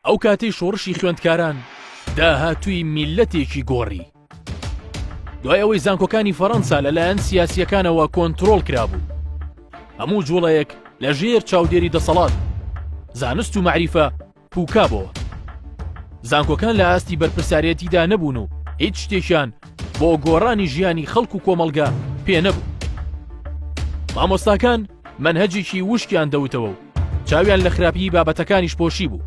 ئەو کاتەی شۆڕشی خوێندکاران داهاتووی میللەتێکی گۆڕی. دوای ئەوەی زانکۆکانی فەڕەنسا لەلایەن سیاسیەکانەوە کۆنتترۆل کرابوو هەموو جوڵەیەک لە ژێر چاودێری دەسەڵات زانست و معریفە پوکابەوە زانکۆکان لە ئاستی بەرپرسارەتیدا نەبوون و هیچ شتێکیان بۆ گۆڕانی ژیانی خەڵک و کۆمەلگا پێ نەبوو مامۆستاکان منهجێکی وشکیان دەوتەوە و چاویان لە خراپیی بابەتەکانیش پۆشیبوو.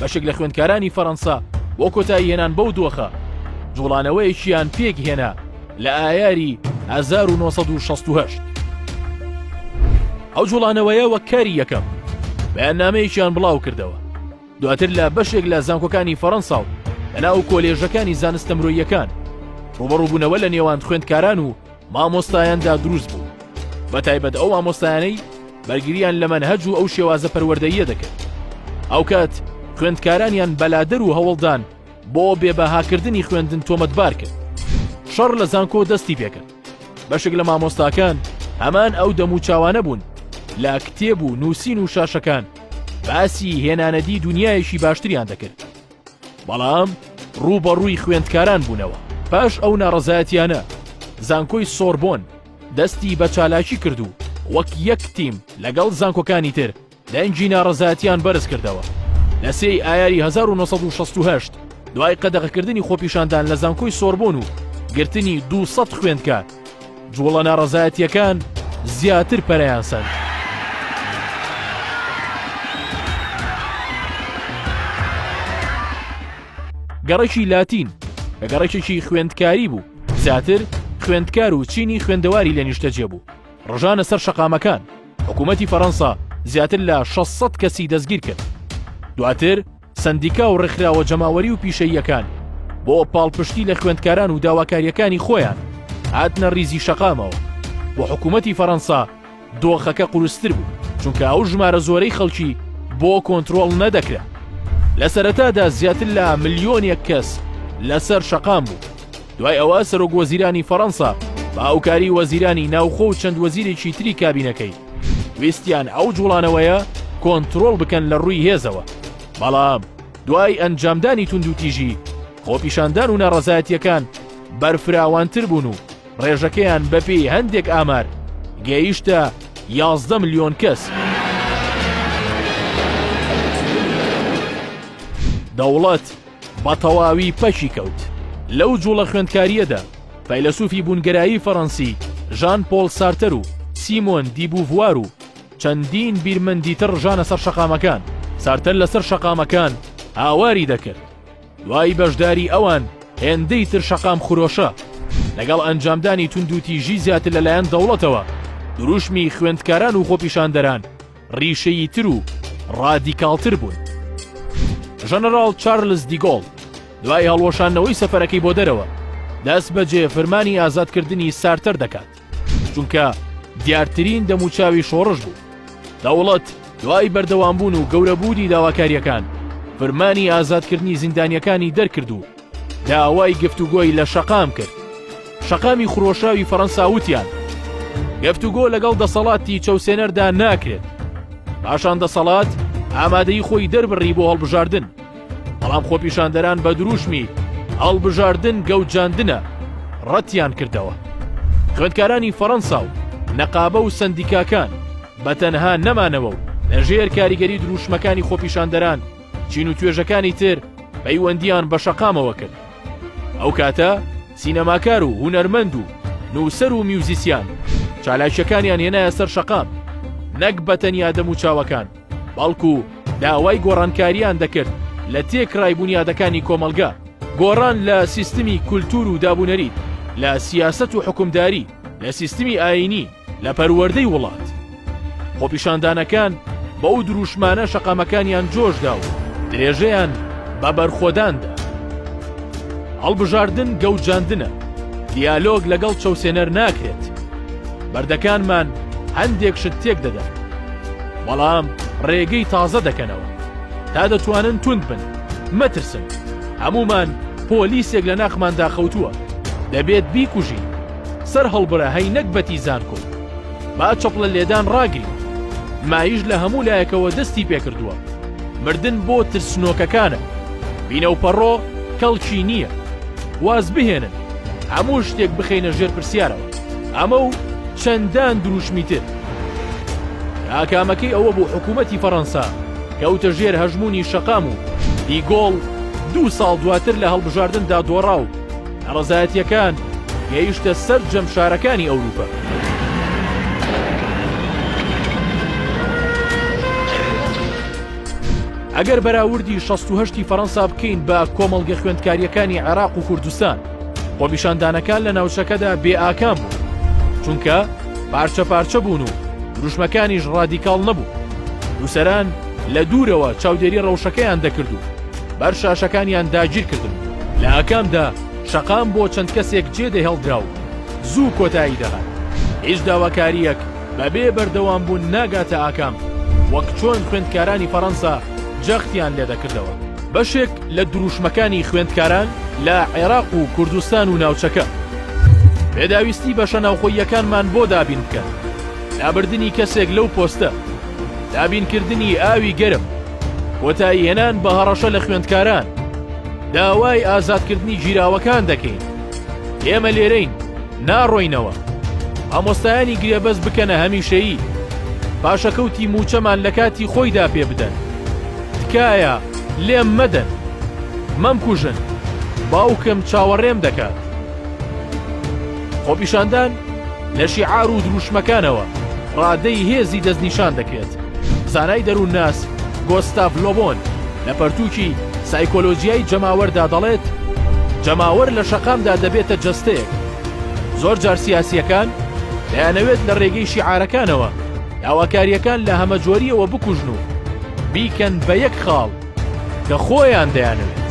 بەشێک لە خوێندکارانی فەرەنسا بۆ کۆتاییهێنان بەو دۆخە، جوڵانەوەیەکیان پێکهێنا لە ئایاری 1968. ئەو جوڵانەوەیە وەک کاری یەکەم بەیاننامەیەکیان بڵاوکردەوە، دواتر لە بەشێک لە زانکۆکانی فەرەنسا و لەناو کۆلێژەکانی زانستە مرۆییەکان ڕووبەڕووبوونەوە لە نێوان خوێندکاران و مامۆستایاندا دروست بوو بەتایبەت ئەو مامۆستایانەی بەرگریان لە مەنهەج و ئەو شێوازە پەروەردەیە دەکرد ئەوکات خوێندکارانیان بەلادەر و هەوڵدان بۆ بێبەهاکردنی خوێندن تۆمەتبار کرد شەڕ لە زانکۆ دەستی پێکرد بەشک لە مامۆستاکان هەمان ئەو دەم و چاوانە بوون لە کتێب و نووسین و شاشەکان باسی هێنانەدی دنیایەکی باشتریان دەکرد بەڵام ڕووبەڕووی خوێندکاران بوونەوە پاش ئەو ناڕەزایەتیانە زانکۆی سۆربۆن دەستی بە چالاکی کرد و وەک یەک تیم لەگەڵ زانکۆکانی تر دەنگی ناڕەزایەتیان بەرز کردەوە لە سێی ئایاری 1960 دوای قەدەغەکردنی خۆپیشاندان لە زانکۆی سۆربۆن و گرتنی 200 خوێندکار جوڵە ناڕەزایەتییەکان زیاتر پەرەیان سەند. گەڕەکی لاتین کە گەڕەکێکی خوێندکاری بوو زیاتر خوێندکار و چینی خوێندەواری لە نیشتەجێ بوو ڕژانە سەر شەقامەکان حکوومەتتی فەەنسا زیاتر لە 600 کەسی دەستگیر کرد دواتر سەندیکا و ڕێکخراوە جەماوەری و پیشەییەکان بۆ پاڵپشتی لە خوێندکاران و داواکاریەکانی خۆیان هاتنە ریزی شەقامەوە بۆ حکوومەتی فەەنسا دۆخەکە قورستر بوو چونکە ئەو ژمارە زۆرەی خەڵکی بۆ کۆنتترۆل نەدەکرا لە سەرەتادا زیاتر لە ملیۆنێک کەس لەسەر شەقام بوو دوای ئەوە سەرۆک وەزیرانی فەرەنسا بە هاوکاری وەزیرانی ناوخۆ و چەند وەزیرێکی تری کابینەکەی ویستیان ئەو جوڵانەوەیە کۆنترۆڵ بکەن لە ڕووی هێزەوە بەڵام دوای ئەنجامدانی توندوتیژی خۆپیشاندان و ناڕەزایەتیەکان بەرفراوانتر بوون و ڕێژەکەیان بەپێی هەندێک ئامار گەیشتە 11 ملیۆن کەس. دەوڵەت بە تەواوی پەکی کەوت. لەو جووڵە خوێندکارییەدا فەیلەسووفی بوونگەرایی فەڕەنسی ژان پۆڵ سارتەر و سیمۆن دی بووڤوار و چەندین بیرمەندی تر ڕژانە سەر شەقامەکان. سارتەر لەسەر شەقامەکان هاواری دەکرد. دوای بەشداری ئەوان هێندەی تر شەقام خرۆشە. لەگەڵ ئەنجامدانی توندوتیژی زیاتر لەلایەن دەوڵەتەوە، دروشمی خوێندکاران و خۆپیشاندەران، ڕیشەییتر و ڕادیکاڵتر بوون. ژەنەراڵ چارلز دیگۆڵ دوای هەڵوەشاندنەوەی سەفەرەکەی بۆ دەرەوە، دەست بەجێ فرمانی ئازادکردنی سارتەر دەکات، چونکە دیارترین دەموچاوی شۆڕش بوو. دەوڵەت دوای بەردەوامبوون و گەورەبوونی داواکارییەکان، فرمانی ئازادکردنی زیندانییەکانی دەرکرد و، داوای گفتوگۆی لە شەقام کرد شەقامی خرۆشاوی فەڕەنسا وتیان گفتوگۆ لەگەڵ دەسەڵاتی چەوسێنەردا ناکرێت پاشان دەسەڵات ئامادەی خۆی دەربڕی بۆ هەڵبژاردن بەڵام خۆپیشاندەران بە دروشمی هەڵبژاردن گەوجاندنە ڕەتیان کردەوە خوێندکارانی فەڕەنسا و نەقابە و سندیکاکان بە تەنها نەمانەوە و لەژێر کاریگەری دروشمەکانی خۆپیشاندەران چین و توێژەکانی تر پەیوەندیان بە شەقامەوە کرد ئەو کاتە سینەماکار و هوەرمەند و نووسەر و میوزیسیان چالاکیەکانیان هێنایە سەر شەقام نەک بە تەنیا دەم و چاوەکان بەڵکو داوای گۆڕانکاریان دەکرد لە تێکڕای بوونیادەکانی کۆمەلگا گۆڕان لە سیستمی کولتور و دابونەریت لە سیاست و حکومداری لە سیستمی ئاینی لە پەروەردەی وڵات. خۆپیشاندانەکان بەو دروشمانە شەقامەکانیان جۆشدا و درێژەیان بە بەرخۆداندا. هەڵبژاردن گەوجاندنە، دیالۆگ لەگەڵ چەوسێنەر ناکرێت. بەردەکانمان هەندێک شت تێک دەدەن، بەڵام ڕێگەی تازە دەکەنەوە. تا دەتوانن توند بن، مەترسن. هەموومان پۆلیسێک لە ناخماندا خەوتووە، دەبێت بیکوژین. سەر هەڵبرە هەی نەگبەتی زانکۆ با چەپڵە لێدان ڕاگری مایش لە هەموو لایەکەوە دەستی پێکردووە مردن بۆ ترسنۆکەکانە بینە و پەڕۆ کەڵکی نییە واز بهێنن هەموو شتێک بخینە ژێر پرسیارەوە ئەمە و چەندان دروشمی تر ئاکامەکەی ئەوە بوو حکوومەتی فەڕەنسا کەوتە ژێر هەژمونی شەقام و دیگۆڵ دوو ساڵ دواتر لە هەڵبژاردندا دۆڕا و ناڕەزایەتییەکان گەیشتە سەرجەم شارەکانی ئەوروپا. ئەگەر بەراوردی شەست و هەشتی فەرەنسا بکەین بە کۆمەڵگە خوێندکاریەکانی عێراق و کوردستان خۆپیشاندانەکان لە ناوچەکەدا بێ ئاکام بوو چونکە پارچە پارچە بوون و دروشمەکانیش ڕادیکاڵ نەبوو نووسەران لە دوورەوە چاودێری ڕەوشەکەیان دەکرد و بەر شاشەکانیان داگیر کردم. لە ئاکامدا شەقام بۆ چەند کەسێک جێ دەهێڵدرا و زوو کۆتایی دەهات. هیچ داواکارییەک بە بێ بەردەوامبوون ناگاتە ئاکام، وەک چۆن خوێندکارانی فەرەنسا جەختیان لێ دەکردەوە. بەشێک لە درووشمەکانی خوێندکاران لە عێراق و کوردستان و ناوچەکە، پێداویستی بەشە ناوخۆییەکانمان بۆ دابین بکەن، لابردنی کەسێک لەو پۆستە، دابین کردنی ئاوی گەرم، کۆتاییهێنان بە هەڕەشە لە خوێندکاران، داوای ئازادکردنی گیراوەکان دەکەین، ئێمە لێرەین ناڕۆینەوە، مامۆستایانی گرێبەست بکەنە هەمیشەیی، پاشەکەوتی مووچەمان لە کاتی خۆیدا پێ بدەن، تکایە لێم مەدەن، مەمکوژن، باوکم چاوەڕێم دەکات. خۆپیشاندان لە شیعار و دروشمەکانەوە ڕادەی هێزی دەستنیشان دەکرێت زانای دەروونناس گۆستاڤ لۆبۆن لە پەرتووکی سایکۆلۆجیای جەماوەردا دەڵێت جەماوەر لە شەقامدا دەبێتە جەستەیەک زۆر جار سیاسیەکان دەیانەوێت لە ڕێگەی شیعارەکانەوە داواکاریەکان لە هەمەجۆریەوە بکوژن و بیکەن بە یەک خاڵ کە خۆیان دەیانەوێت.